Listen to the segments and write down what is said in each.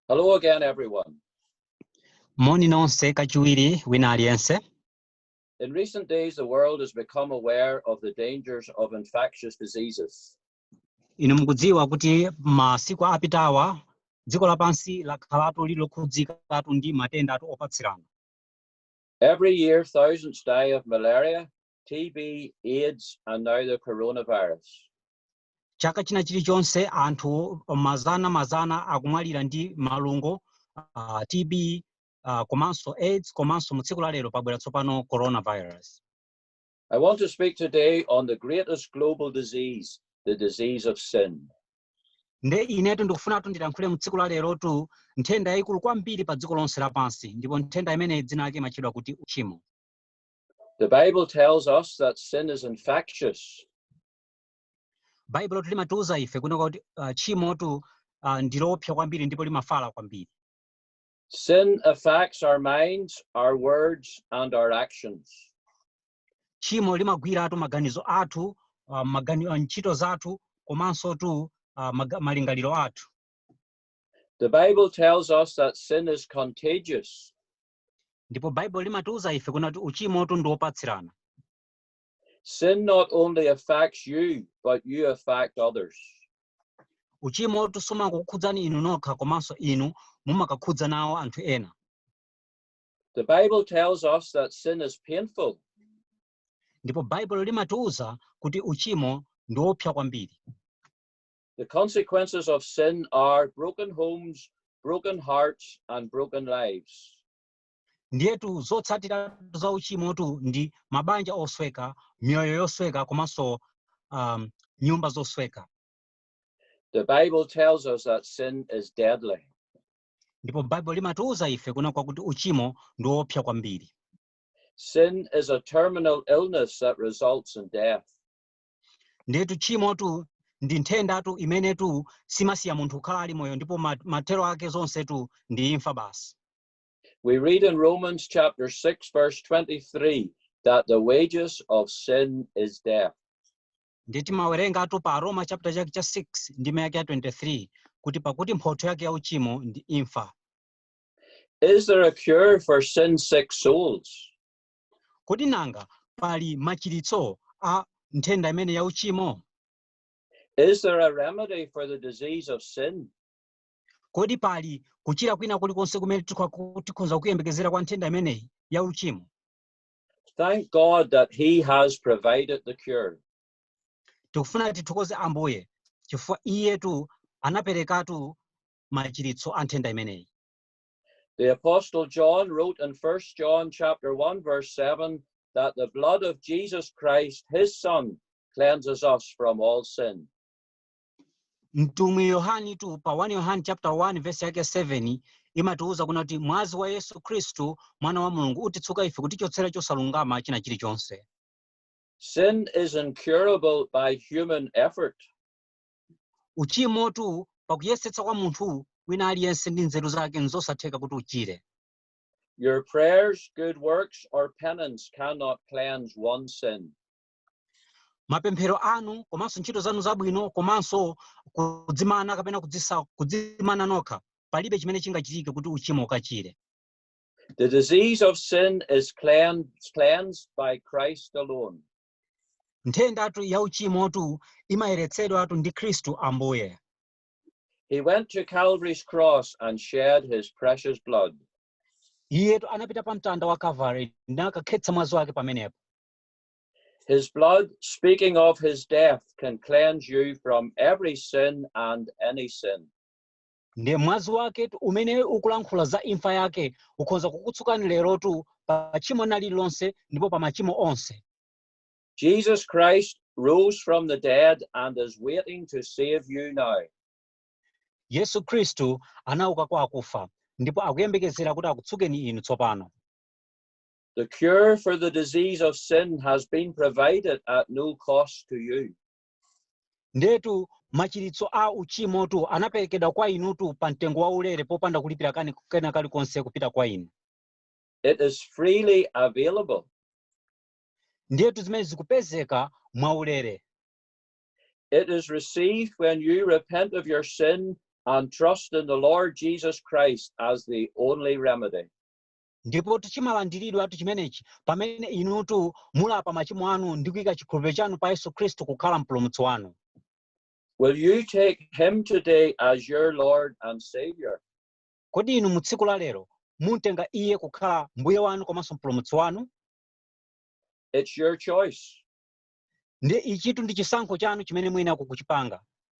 Hello again, everyone. Moni nonse kachiwiri wina aliyense. In recent days, the world has become aware of the dangers of infectious diseases. Inu mukudziwa kuti masiku apitawa dziko lapansi lakhalatu liri lokhudzikatu ndi matendatu opatsirana. Every year, thousands die of malaria, TB, AIDS, and now the coronavirus. Chaka china chilichonse anthu mazana mazana akumwalira ndi malungo, uh, TB, uh, komanso AIDS komanso mu tsiku la lero pabwera tsopano coronavirus. I want to speak today on the greatest global disease, the disease of sin. nde inetu ndikufunatu ndilankhule mu tsiku la lerotu nthenda yayikulu kwambiri pa dziko lonse lapansi ndipo nthenda imeneyi dzina lake imatchedwa kuti uchimo The Bible tells us that sin is infectious. baibulo limatiuza ife kunena kuti uh, tchimotu uh, ndiloopsa kwambiri ndipo limafala kwambiri Sin affects our minds, our words, and our actions. tchimo limagwiratu maganizo athu uh, magani, uh, ntchito zathu komanso tu uh, maga- malingaliro athu The Bible tells us that sin is contagious. ndipo baibulo limatiuza ife kunena kuti uchimotu ndi wopatsirana Sin not only affects you, but you affect others. uchimotu sumangokukhudzani inu nokha komanso inu mumakakhudza nawo anthu ena The Bible tells us that sin is painful, ndipo baibulo limatiwuza kuti uchimo ndi woopsa kwambiri The consequences of sin are broken homes, broken hearts, and broken lives. ndiyetu zotsatira za uchimotu ndi mabanja osweka miyoyo yosweka komanso um, nyumba zosweka The Bible tells us that sin is deadly. ndipo baibulo limatiwuza ife kunena kwakuti uchimo ndi woopsa kwambiri Sin is a terminal illness that results in death. ndiyetu tchimotu ndi nthendatu imenetu siimasiya munthu kukhala ali moyo ndipo ma- mathero ake zonsetu ndi imfa basi We read in Romans chapter 6, verse 23, that the wages of sin is death. ndiye timawerengatu pa aroma chapter chake cha 6 ndime yake ya 23 kuti pakuti mphotho yake ya uchimo ndi imfa Is there a cure for sin sick souls? kodi nanga pali machiritso a nthenda imeneyi ya uchimo Is there a remedy for the disease of sin? Kodi pali kuchira kwina kulikonse kumene tikho- tikhoza kuyembekezera kwa nthenda imeneyi ya uchimo? Thank God that He has provided the cure. tikufuna tithokoze ambuye chifukwa iyetu anaperekatu machiritso a nthenda imeneyi The apostle John wrote in 1 John chapter 1 verse 7 that the blood of Jesus Christ his son cleanses us from all sin. mtumwi yohanitu pa 1 yohani chapter 1 verse yake 7 imatiwuza kuna kuti mwazi wa yesu khristu mwana wa mulungu utitsuka ife kutichotsera chosalungama china chilichonse Sin is incurable by human effort. uchimotu pakuyesetsa kwa munthu wina aliyense ndi nzeru zake nzosatheka kuti uchire Your prayers, good works, or penance cannot cleanse one sin. mapemphero anu komanso ntchito zanu zabwino komanso kudzimana kapena kudzisa, kudzimana nokha palibe chimene chingachitike kuti uchimo ukachire The disease of sin is clean- cleansed by Christ alone. nthendatu ya uchimotu imayeretsedwatu ndi khristu ambuye He went to Calvary's cross and shed his precious blood. iyetu anapita pa mtanda wa kavari nakakhetsa mwazi wake pamenepo His blood, speaking of his death, can cleanse you from every sin and any sin. ndiye mwazi wake umene ukulankhula za imfa yake ukhoza kukutsukani lerotu pa tchimo na lililonse ndipo pa machimo onse Jesus Christ rose from the dead and is waiting to save you now. yesu khristu anauka kwa akufa ndipo akuyembekezera kuti akutsukeni inu tsopano The cure for the disease of sin has been provided at no cost to you. ndetu machiritso a uchimotu anaperekedwa kwa inutu pa mtengo waulere popanda kulipira kan- kena kalikonse kupita kwa inu It is freely available. ndetu zimene zikupezeka mwaulere It is received when you repent of your sin and trust in the Lord Jesus Christ as the only remedy. ndipo chimalandiridwatu chimenechi pamene inutu mulapa machimo anu ndi kuika chikhulupiriro chanu pa yesu khristu kukhala mpulumutsi wanu Will you take him today as your Lord and Savior? kodi inu mu tsiku la lero mumtenga iye kukhala mbuye wanu komanso mpulumutsi wanu It's your choice. ndiye ichitu ndi chisankho chanu chimene muyenera kuchipanga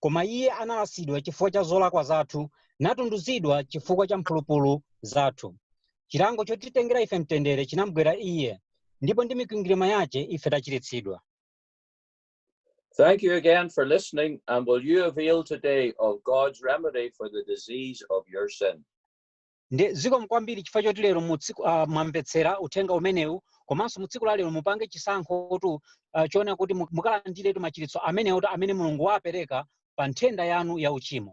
Koma iye analasidwa chifukwa cha zolakwa zathu, natunduzidwa chifukwa cha mphulupulu zathu. Chilango chotitengera ife mtendere chinamgwera iye, ndipo ndi mikwingirima yache ife tachiritsidwa. Thank you again for listening, and will you avail today of God's remedy for the disease of your sin? Ndi zikomo kwambiri chifukwa choti lero uh, mwamvetsera uthenga umenewu komanso mu tsiku la lero mupange chisankhotu uh, choona kuti mu- mukalandiretu machiritso amenewotu amene Mulungu wapereka pa nthenda yanu ya uchimo.